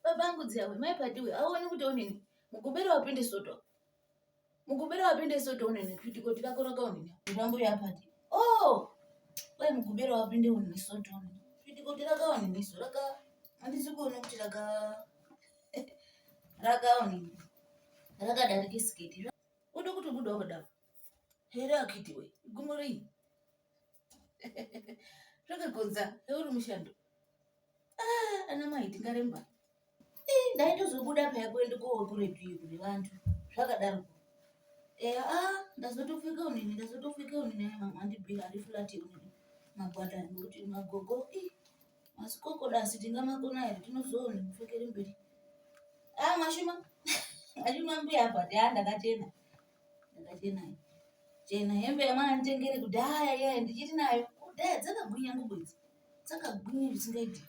Baba angu dziyawe mai padiwe auone kuti onini mugobera wapinde soto mugobera wapinde soto onini kuti koti kakoroka onini ndambo yapati oh kwai mugobera wapinde onini soto onini kuti koti raka onini so raka andisi kuona kuti raka raka onini rakadarika siketi unokuti buda kudaro here akiti we gumo rei zvakagonza uri mushando ah, ana mai tingaremba eh, ndaitozobuda paya kuende kookuretu iyo kune vantu zvakadaro eya a ah, ndazotofika unini ndazotofika unini andibhira ari fulati unini magwada nekuti magogo eh, masikokoda asi tingamakona here tinozoona mupfekeri mberi a ah, mwashuma mwashuma mbuya apa tea ndakatenda Ndakachena chena hembe yamwana nditengere kudhaya yeye ndichiri nayo kudhaya dzakagwinya ngubo idzi dzakagwinya zvisingaiti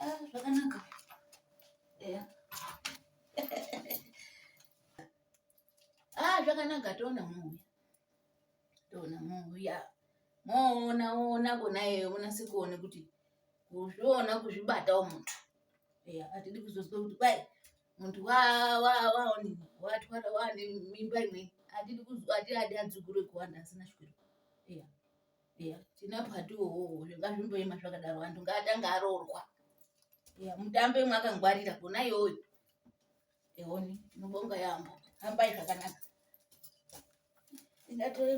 ah, zvakanaka eya ah zvakanaka toona muuya toona muuya moona ona kona iyeyo munase kuone kuti kuzviona kuzvibatawo muntu eya atidi kuzozwa kuti kwai muntu waonini watwara wane mimba imwe atidi kuzwa ati adi adzukuru ekuwanda asina shwiro iya iya tinapo atiwowo ngazvimboema zvakadaro antu ngaatanga aroorwa iya mutambe mwakangwarira kona iyoyo eoni tinobonga yaambo hambai zvakanaka ingatoremba